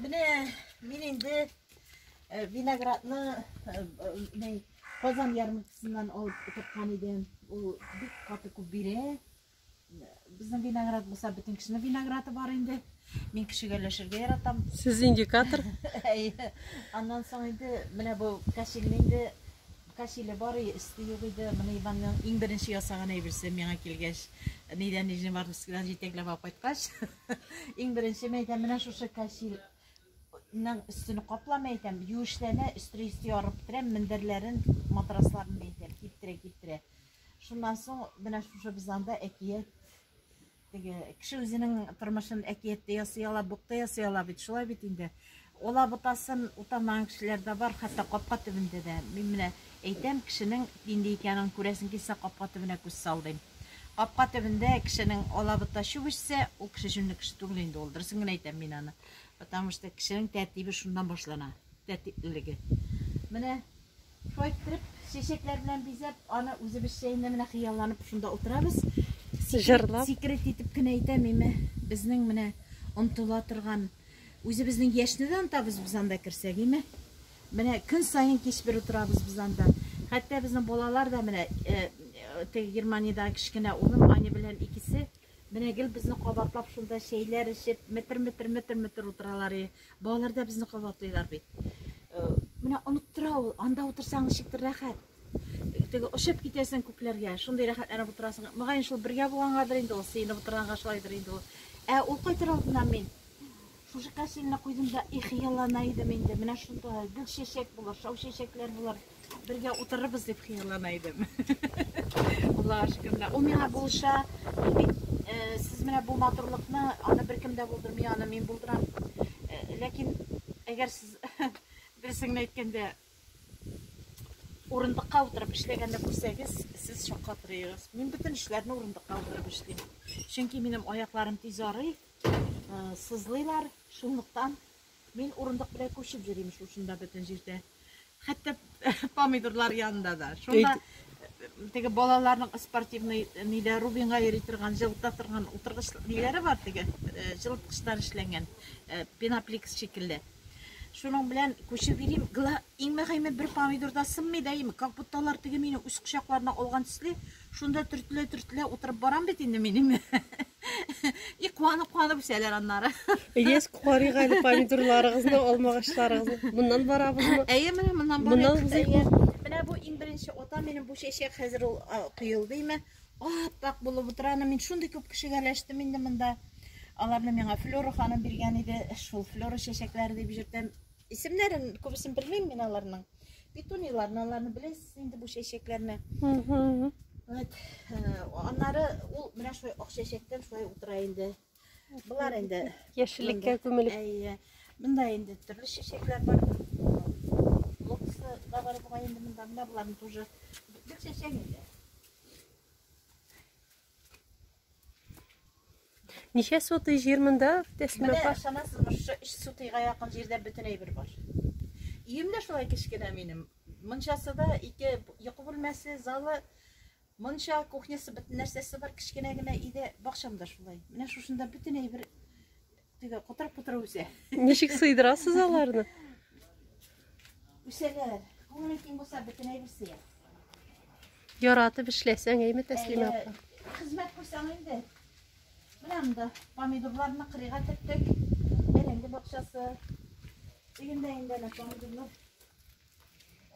Менә мин инде э, виноградны э, э, Казан ярмаркасыннан алып тоткан идем. Ул бик каты күп бирә. Безнең виноград булса, бөтен кешенең винограды бар инде. Мин кешегә өләшергә яратам. Сез индикатор? Әйе. Аннан соң инде менә бу кәшилне инде кәшиле бар иде, өсте юк иде. Менә Иванның иң беренче ясаган әйберсе миңа килгәч, нидән Нижневартовскидан җитәкләп алып кайткач, Иң беренче мәйтәм менә шушы кәчил ның өстен каплама әйтәм, юешләнә, өстре өсте ярып бетерәм, мендәрләрен, матрасларын мәйтәм, киптерә, киптерә. Шуннан соң менә шушы без анда әкият теге кеше үзенең тормышын әкиятте ясый ала, букта ясый ала бит, шулай бит инде. Алабутасын утамаган кешеләр дә бар, хәтта капка төбендә дә. Мин менә әйтәм, кешенең нинди икәнен күрәсең килсә, капка төбенә күз сал, дим. Капка төбендә кешенең алабута чүп эчсә, ул кеше җүнле кеше түгел инде ул, дөресен генә әйтәм мин аны. Потому что кешенең тәртибе шуннан башлана, тәртиплелеге. Менә. Шулай иттереп, чәчәкләр белән бизәп, аны үзебезчә инде менә хыялланып шунда утырабыз. Җырлап. Секрет итеп кенә әйтәм, име, безнең менә онтыла торган, үзебезнең яшьне дә онтабыз без анда керсәк, име. Менә көн саен кич бер утырабыз без анда. Хәтта безнең балалар да менә, теге Германиядәге кечкенә улым Аня белән икесе менә гел безне кабатлап шунда чәйләр эчеп, метр-метр, метр-метр утыралар, и. Балалар да безне кабатлыйлар бит. Э, менә оныттыра ул, анда утырсаң ничектер рәхәт. Э, теге очып китәсең күкләргә, шундый рәхәтләнеп утырасың. Мөгаен шул бергә булгангадыр инде ул, сыенып утырганга шулайдыр инде ул. Ә ул кайтыр алдыннан мин шушы кәсилне куйдым да, их, яллана идем инде. Менә шунда гөл чәчәк булыр, шау чәчәкләр булыр. Бергә утырырбыз дип хыяллана идем. Аллаһ шөкерлә. Ул миңа булыша. Э, сез менә бу матурлыкны, аны беркем дә булдырмый, аны мин булдырам. Э, ләкин әгәр сез дөресен әйткәндә урындыкка утырып эшләгәнне күрсәгез, сез шакка торыгыз. Мин бөтен эшләрне урындыкка утырып эшлим. Чөнки минем аякларым тиз арый, э, сызлыйлар, шунлыктан Мин урындык белән күчеп йөрим шул шунда бөтен җирдә. Хәтта помидорлар янында да. Шунда теге балаларның спортивный ниләр Рубинга йөри торган, җылыта торган утыргыч ниләре бар теге җылыткычтан эшләнгән пеноплекс шикелле. Шуның белән күчеп йөрим. Иң мөһиме бер помидорда сынмый да ими, как будто алар теге мине үз кочакларына алган төсле, Шунда төртелә-төртелә утырып барам бит инде мин инде. И куанып-куанып үсәләр аннары. Ильяс карыйк әле помидорларыгызны, алмагачларыгызны. Моннан барабызмы? Әйе, менә моннан барыйк. Моннан узыйк. Менә бу иң беренче ата минем бу чәчәк хәзер ул коелды име. Ап-ак булып утыра. Аны мин шундый күп кешегә ләштем инде монда. Аларны миңа Флора ханым биргән иде. Шул Флора чәчәкләре дип җөртәм. Исемнәрен күбесен белмим мин аларның. Петунияләрне аларны беләсез инде бу чәчәкләрне. Вот. Э, аннары ул менә шулай ак чәчәктән шулай утыра инде. Булар инде. Яшеллеккә күмелеп. Әйе. Монда инде төрле чәчәкләр бар. Лотосы да бар бугай инде монда. Менә буларны тоже бик чәчәк инде. Ничә сотый җир монда, Тәслимә апа? Менә ышанасызмы, шушы 3 сотыйга якын җирдә бөтен әйбер бар. Өем дә шулай кечкенә минем. Мончасы да ике йокы бүлмәсе, залы, монча, кухнясы, бөтен нәрсәсе бар, кечкенә генә өйдә. Бакчам да шулай. Менә шушында бөтен әйбер Теге кутырып-кутырып үсә. Ничек сыйдырасыз аларны? Үсәләр. Күңеле киң булса бөтенләй үсә. Яратып эшләсәң, әйме Тәслимә апа. Хезмәт күрсәң инде. Менә монда помидорларны кырыйга төрттек. Бәрәңге бакчасы. Өендә инде әнә помидорлар.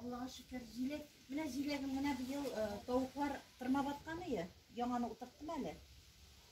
Аллага шөкер, җиләк. Менә җиләгем менә быел э, тавыклар тырмап аткан ие. Яңаны утырттым әле.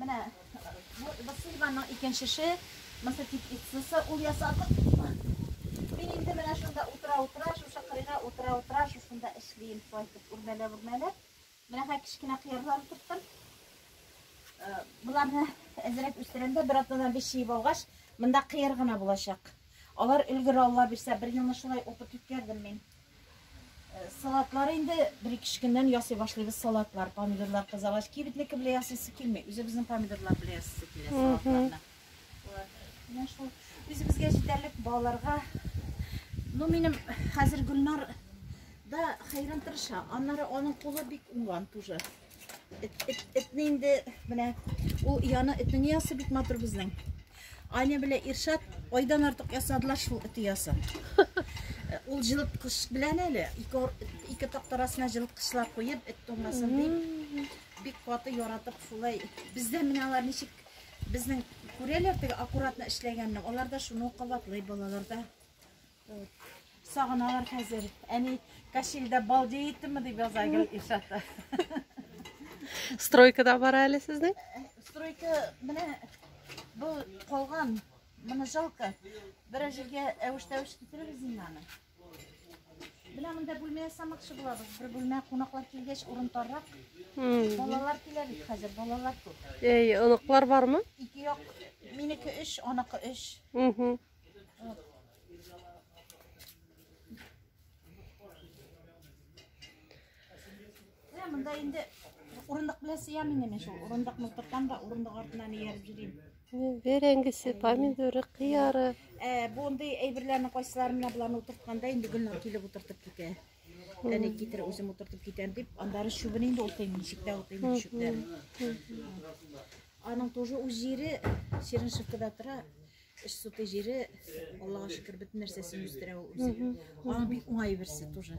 Менә бу Васильеваның икенчесе, Масатик Иццеса, ул ясадык. Мин инде менә шунда утыра-утыра, шушы кырыйга утыра-утыра, шушында эшлим, шулай итеп үрмәләп-үрмәләп. Менә хә кечкенә кыярлар тоттым. Э, Буларны әзерәк үстерәмдә, бер атнадан биш җыеп алгач, монда кыяр гына булачак. Алар өлгер Алла бирсә, бер елны шулай укып үткәрдем мин. Салатлар инде бер-ике көннән ясый башлыйбыз салатлар, помидорлар кызагач, кибетнеке белән ясыйсы килми, үзебезнең помидорлар белән ясыйсы килә салатларны. Менә шул үзебезгә җитәрлек балаларга. Ну, минем хәзер Гөлнар да хәйран тырыша. Аннары аның кулы бик уңган тоже. Этне инде менә ул яны эте ни ясы бик матур безнең. Аня белә Иршат айдан артык ясадылар шул эте ясы. Ул җылыткыч белән әле ике ике тактарасына җылыткычлар куеп эт тумасын дип бик каты яратып шулай. Бездә менә алар ничек безнең күрәләр теге аккуратно эшләгәнне. Алар да шуны кабатлый балаларда. Сагыналар хәзер. Әни Кашилдә балдей иттеме дип яза Гел Илшатта. Стройкада бар әле сезнең? Стройка менә бу калган. Моны жалко. Берәр җиргә әвеш-тәвеш китерегез инде аны. Менә монда бүлмә ясамакчы булабыз. Бер бүлмә кунаклар килгәч урын таррак. Балалар килә бит хәзер, балалар күп. Әй, оныклар бармы? Ике як, минеке 3, аныкы 3. Мында инде урындык белән сыям инде мин шул. Урындык мылтыктан да урындык артынан ияреп йөрим. Бәрәңгесе, помидоры, кыяры. Ә, бу андый әйберләрне кайсыларын менә буларны утыртканда инде Гөлнур килеп утыртып китә. Әни китер үзем утыртып китәм дип, андары чүбен инде утыйм, ничектә утыйм чүпләрен. Аның тоже үз җире Сиреншевкада тора. Эш суты җире, Аллага шөкер, бөтен нәрсәсен үстерә ул үзе. Аның бик уңай берсе тоже.